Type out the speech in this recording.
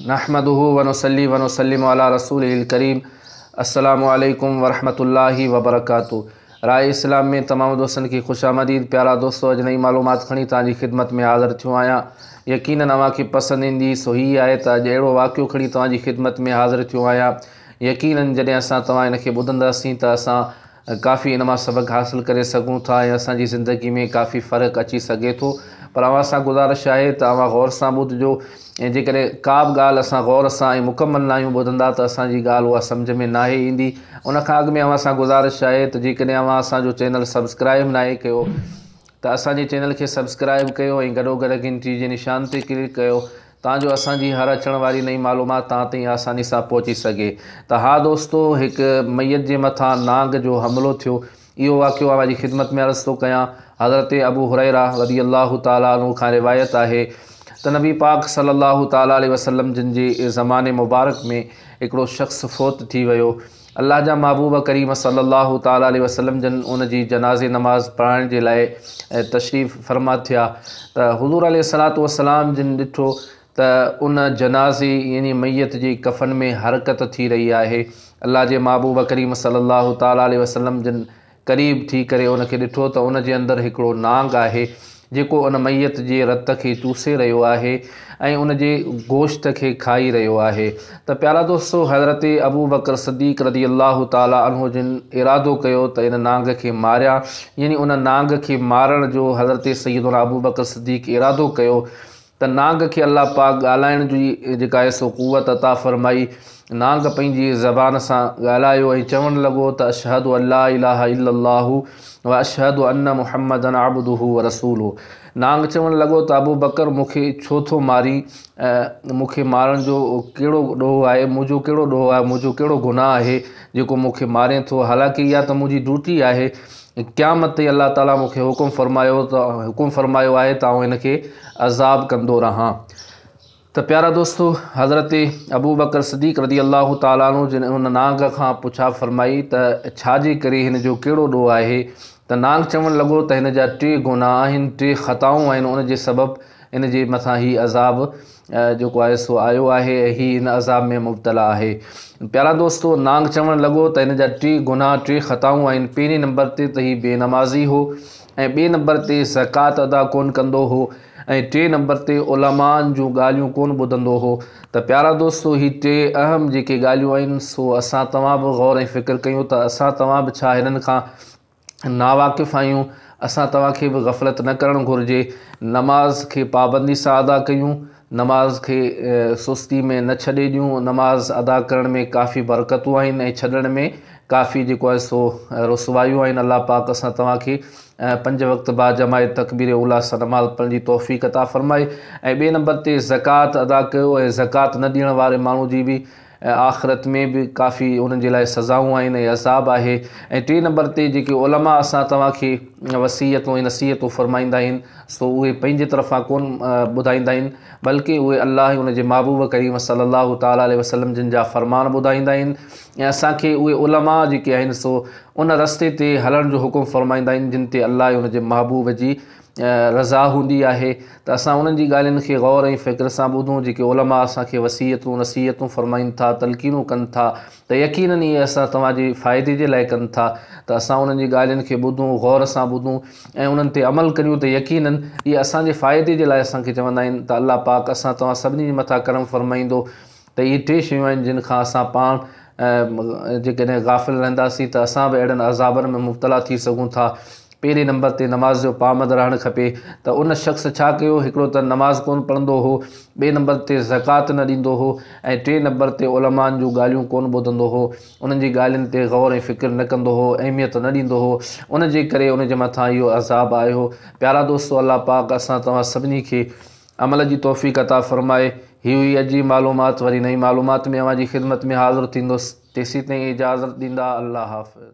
نحمده ونصلي ونسلم علي رسوله الڪريم السلام عليڪم ورحمة الله وبرڪاته راء اسلام ۾ تمام دوستن کي خوش آمديد پيارا دوستو اڄ نئي معلومات کڻي توهان جي خدمت ۾ حاضر ٿيو آهيان يقينن اوهان کي پسند ايندي سو هي آهي ته اڄ اهڙو واقعو کڻي توهان جي خدمت ۾ حاضر ٿيو آهيان يقينن جڏهن اسان توهان ان کي ٻڌنداسين ته اسان ڪافي ان مان سبق حاصل ڪري سگهون ٿا ۽ اسان جي زندگي ۾ ڪافي فرق اچي سگهي ٿو پر اوهان سان گذارش آهي ته اوهان غور سان ٻڌجو ۽ جيڪڏهن ڪا به ڳالهه اسان غور سان ۽ مڪمل ناهيون ٻڌندا ته اسان جي ڳالهه اها سمجهه ۾ ناهي ايندي ان کان اڳ ۾ اوهان سان گذارش آهي ته جيڪڏهن اوهان اسان جو چينل سبسڪرائيب ناهي ڪيو ته اسان جي چينل کي سبسڪرائيب ڪيو ۽ گڏو گڏ گهنٽي جي نشان تي ڪلڪ ڪيو تان جو اسان جي هر اچڻ واري نئين معلومات توهان تائين آساني سان پهچي سگهي ته ها دوستو هڪ ميت جي مٿان نانگ جو حملو ٿيو اهو واقعو اوهان جي خدمت ۾ عرض ٿو ڪيان حضرت ابو هريره رضي الله تعالٰي عنه کان روايت آهي ته نبي پاڪ صلي الله تعالٰي عليه وسلم جن جي زمان مبارڪ ۾ هڪڙو شخص فوت ٿي ويو الله جا محبوب ڪريم صلّي الله تعالٰي عليه وسلّم جن ان جي جنازي نماز پڙهائڻ جي لاء تشريف فرما ٿيا ته حضور عليه الصلّوة والسلّام جن ڏٺو ته ان جنازي يعني ميت جي ڪفن ۾ حرڪت ٿي رهي آهي الله جي محبوب ڪريم صلّي الله تعالٰي عليه وسلّم جن قريب ٿي ڪري ان کي ڏٺو ته ان جي اندر هڪڙو نانگ آهي جيڪو ان ميت جي رت کي چوسي رهيو آهي ۽ ان جي گوشت کي کائي رهيو آهي ته پيارا دوستو حضرت ابوبڪر صديق رضي الله تعالٰي عنه جن ارادو ڪيو ته ان نانگ کي ماريان يعني ان نانگ کي مارڻ جو حضرت سيدنا ابوبڪر صديق ارادو ڪيو ته نانگ کي الله پاڪ ڳالهائڻ جي جيڪا حس و قوت عطا فرمائي، نانگ پنهنجي زبان سان ڳالهايو ۽ چوڻ لڳو ته اشهد ان لا اله الا الله و اشهد ان محمدا عبده و رسوله. نانگ چوڻ لڳو ته ابوبڪر مون کي ڇو ٿو مارين؟ مون کي مارڻ جو ڪهڙو ڏوهه آهي؟ منهنجو ڪهڙو ڏوهه آهي؟ منهنجو ڪهڙو گناهه آهي جيڪو مون کي مارين ٿو؟ حالانڪه اها ته منهنجي ڊيوٽي آهي ۽ قيامت تائين الله تعاليٰ مون کي حڪم فرمايو ته حڪم فرمايو آهي ته آئون هن کي عذاب ڪندو رهان ته پيارا دوستو حضرت ابو بڪر صديق رضي الله تعاليٰ عنه جن ان نانگ کان پڇا فرمائي ته ڇا جي ڪري هن جو ڪهڙو ڏوهه آهي ته نانگ چوڻ لڳو ته هن جا ٽي گناهه آهن ٽي خطائون آهن ان جي سبب ان جي مٿان هي عذاب جيڪو آهي سو آيو آهي ۽ هي هن عذاب ۾ مبتلا آهي پيارا دوستو نانگ چوڻ لڳو ته هن جا ٽي گناهه ٽي خطائون آهن پهرين نمبر تي ته هي بي نمازي هو ۽ ٻئي نمبر تي زڪوات ادا ڪون ڪندو هو ۽ ٽئين نمبر تي علماءن جون ڳالهيون ڪون ٻڌندو هو ته پيارا دوستو هي ٽي اهم جيڪي ڳالهيون آهن سو اسان توهان به غور ۽ فڪر ڪيون ته اسان توهان به ڇا هنن کان ناواقف آهيون، اسان توهان کي به غفلت نه ڪرڻ گهرجي، نماز کي پابندي سان ادا ڪيون، نماز کي سستي ۾ نه ڇڏي ڏيون، نماز ادا ڪرڻ ۾ ڪافي برڪتون آهن ۽ ڇڏڻ ۾ ڪافي جيڪو آهي سو رسوايون آهن، الله پاڪ اسان توهان کي پنج وقت باجماعت تڪبير اولی سان نماز پڙهڻ جي توفيق عطا فرمائي ۽ ٻئي نمبر تي زڪوات ادا ڪيو ۽ زڪوات نه ڏيڻ واري ماڻهو جي به ۽ آخرت ۾ به ڪافي انهن جي لاء سزائون آهن ۽ عذاب آهي ۽ ٽي نمبر تي جيڪي علماء اسان توهان کي وصيتون ۽ نصيحتون فرمائيندا آهن سو اهي پنهنجي طرفان ڪون ٻڌائيندا آهن بلڪه اهي الله ۽ ان جي محبوب ڪريم صلّي الله تعالٰي عليه وسلّم جن جا فرمان ٻڌائيندا آهن ۽ اسان کي اهي علماء جيڪي آهن سو ان رستي تي هلڻ جو حڪم فرمائيندا آهن جن تي الله ۽ ان جي محبوب جي رضا هوندي آهي ته اسان انهن جي ڳالهين کي غور ۽ فڪر سان ٻڌون جيڪي علماء اسان کي وصيتون، نصيحتون فرمائين ٿا، تلقينون ڪن ٿا ته يقيناً اهي اسان توهان جي فائدي جي لاء ڪن ٿا ته اسان انهن جي ڳالهين کي ٻڌون، غور سان ٻڌون ۽ انهن تي عمل ڪريون ته يقيناً اهي اسان جي فائدي جي لاء اسان کي چوندا آهن ته الله پاڪ اسان توهان سڀني جي مٿان ڪرم فرمائيندو ته اهي ٽي شيون آهن جن کان اسان پاڻ جيڪڏهن غافل رهنداسين ته اسان به اهڙن عذابن ۾ مبتلا ٿي سگهون ٿا پهرين نمبر تي نماز جو پابند رهڻ کپي ته ان شخص ڇا ڪيو هڪڙو ته نماز ڪون پڙهندو هو ٻئي نمبر تي زڪوات نه ڏيندو هو ۽ ٽئين نمبر تي علمائن جون ڳالهيون ڪون ٻڌندو هو انهن جي ڳالهين تي غور ۽ فڪر نه ڪندو هو اهميت نه ڏيندو هو ان جي ڪري ان جي مٿان اهو عذاب آيو پيارا دوستو الله پاڪ اسان توهان سڀني کي عمل جي توفيق عطا فرمائي هي هئي اڄ جي معلومات وري نئين معلومات ۾ اوهان جي خدمت ۾ حاضر ٿيندس تيسيتائين اجازت ڏيندا الله حافظ.